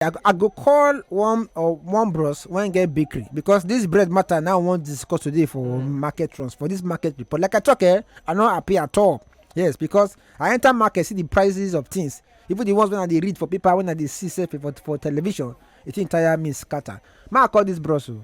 I go, I go call one or one bros when get bakery because this bread matter now I want to discuss today for market trends for this market report. Like I talk, eh, I not happy at all. Yes, because I enter market see the prices of things. Even the ones when I dey read for paper, when I dey see say for for television, it entire me scatter. Ma I call this bros. o.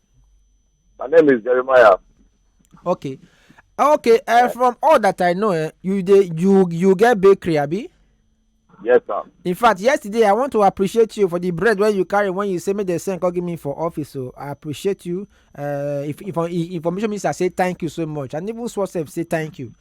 My name is Jeremiah. Okay. Ah, okay, uh, from all that I know, eh, you dey you you get bakery, abi? Yes, sir. In fact, yesterday I want to appreciate you for the bread when you carry when you say me the same call give me for office. So I appreciate you. Uh, if, if, if information minister say thank you so much, and even Swasef say thank you.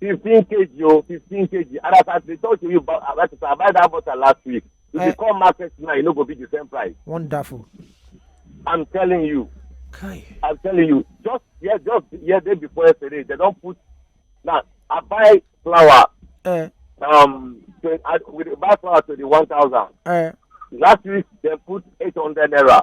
fifteen kg o fifteen kg and as i dey talk to you about about i buy that butter last week if you eh. come market now e no go be the same price. wonderful. i'm telling you. Kai. i'm telling you just yeah just yeah day before yesterday they don put na i buy flour. Uh. um to, I, we buy flour to the one thousand. Uh. last week they put eight hundred naira.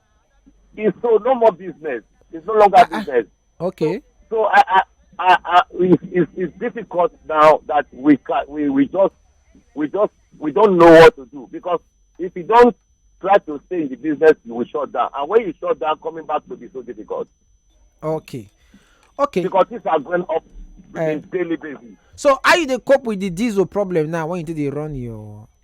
It's so no more business. It's no longer ah, ah. business. Okay. So, so I, I, I, I it's, it's, it's, difficult now that we can, we we just we just we don't know what to do because if you don't try to stay in the business, you will shut down. And when you shut down, coming back will be so difficult. Okay. Okay. Because things are going up uh, daily basis. So how you dey cope with the diesel problem now when you do dey run your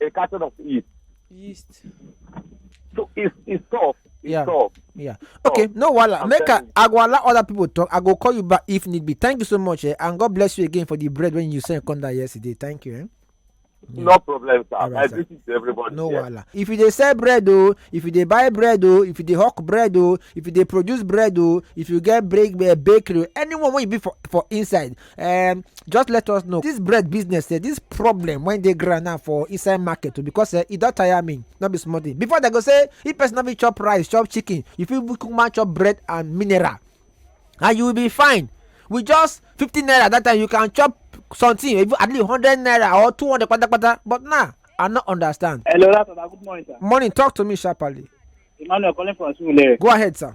a carton of yeast. Yeast. So it's it's tough. It's yeah. tough. Yeah. Okay, tough. no wala. Make I, I go allow other people talk. I go call you back if need be. Thank you so much, eh? and God bless you again for the bread when you sent come down yesterday. Thank you. Eh? Yeah. No problem, sir. Right, I sir. visit everybody. No yeah. wala. If you dey sell bread oh, if you dey buy bread oh, if you dey hawk bread oh, if you dey produce bread oh, if you get break uh, bakery, anyone wey you be for for inside, um, just let us know this bread business eh, this problem when they ground now for inside market too because eh, e don tire me no be small thing before they go say if person no fit chop rice chop chicken you fit kukuma chop bread and mineral and you will be fine with just fifty naira that time you can chop something even at least hundred naira or two hundred patapata but now i no understand. hello that's good morning sir. morning talk to me sharply. emmanuel calling from surulere. go ahead sir.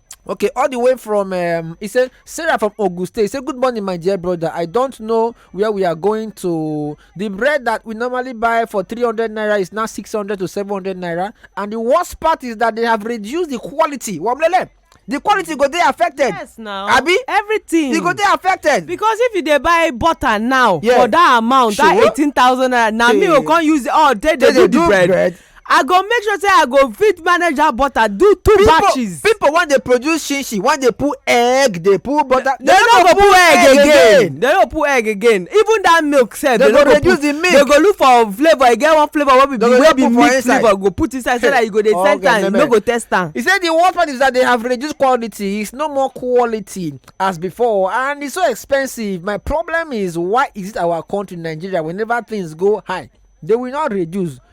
okay all the way from um, he said sarah from ogun state he said good morning my dear brother i don't know where we are going to the bread that we normally buy for 300 naira is now 600 to 700 naira and the worst part is that they have reduced the quality wamlele the quality go dey affected yes now abi everything e go dey affected because if you dey buy butter now for that amount that eighteen thousand naira na me go come use all day dey do the bread i go make sure say i go fit manage that butter do two people, batches people wan dey produce shinshin wan dey put egg dey put butter they no go put egg again they no put egg again even that milk sef they no go reduce the milk they go look for flavour e get one flavour wey be the wey be milk flavour go put inside so that you go dey send am you no go test am. he say the worst part is that they have reduced quality it's no more quality as before and it's so expensive my problem is why is it our country nigeria whenever things go high they will not reduce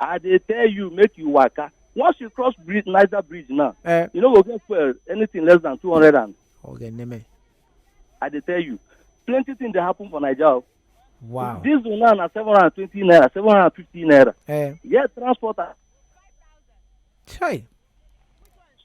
I dey tell you make you waka. Once you cross bridge, Niger Bridge now, eh. you no go get fuel anything less than two hundred and. Okay, name. I dey tell you, plenty things dey happen for Nigeria. Oh. Wow. This one now na seven hundred and twenty naira, seven hundred and fifty naira. Eh. Yet transporter. Chai.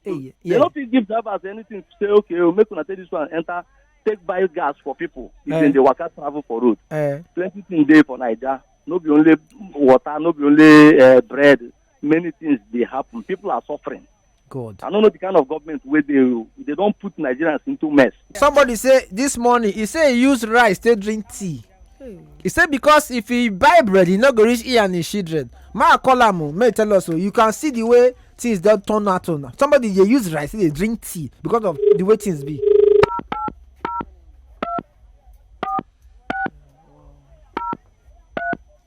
Hey, yeah. They don't fit give drivers anything to say, okay, we'll oh, make una take this one enter, take buy gas for people. If uh, they work out travel for road. Uh, Plenty things there for Nigeria. No be only water, no be only uh, bread. Many things they happen. People are suffering. God. I don't know the kind of government where they they don't put Nigerians into mess. somebody say this morning he say he use rice take drink tea he say because if he buy bread he no go reach he and his children ma call am o make tell us o you can see the way things don turn out o now somebody dey use rice dey drink tea because of the way things be.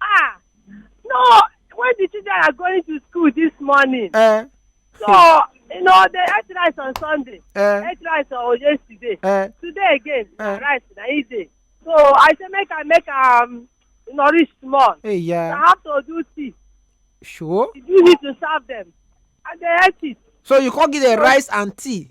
Ah, no, when the children are going to school this morning, Eh, so you know they ate rice on Sunday, eh, ate rice on yesterday, eh. today again na Eh. rice na e dey. So I say make I make am nourish small. Hey, I yeah. have to do tea. Sure. You need to serve them, and they ate it. So you come give them rice and tea.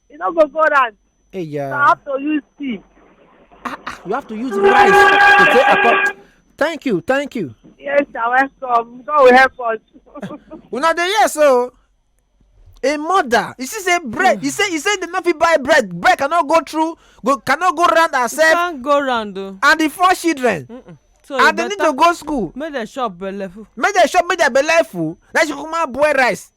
e no go go round Hey, so i yeah. have to use tea You have to use rice to take akọ. Thank you, thank you. yes na welcome god will help us Una dey hear so. A mother, you see, say bread. You say, you say they no fit buy bread. Bread cannot go through, go cannot go round herself can't go round o and the four children. so e and they need to better go school. make dem chop belleful make dem chop make their belle full na she kukuma boil rice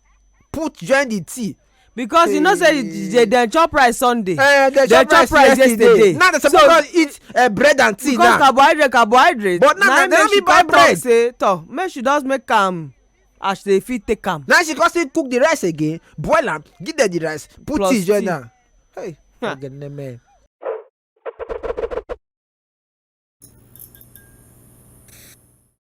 put join the tea because you know say they dem chop rice sunday eh, dem chop rice yesterday now dem suppose don eat eh, bread and tea now because carbohydrate carbohydrate but now dem no fit buy bread say toh make she just make am as they fit take am now she come still cook the rice again boil am give dem the rice put tea join am hey ogene men.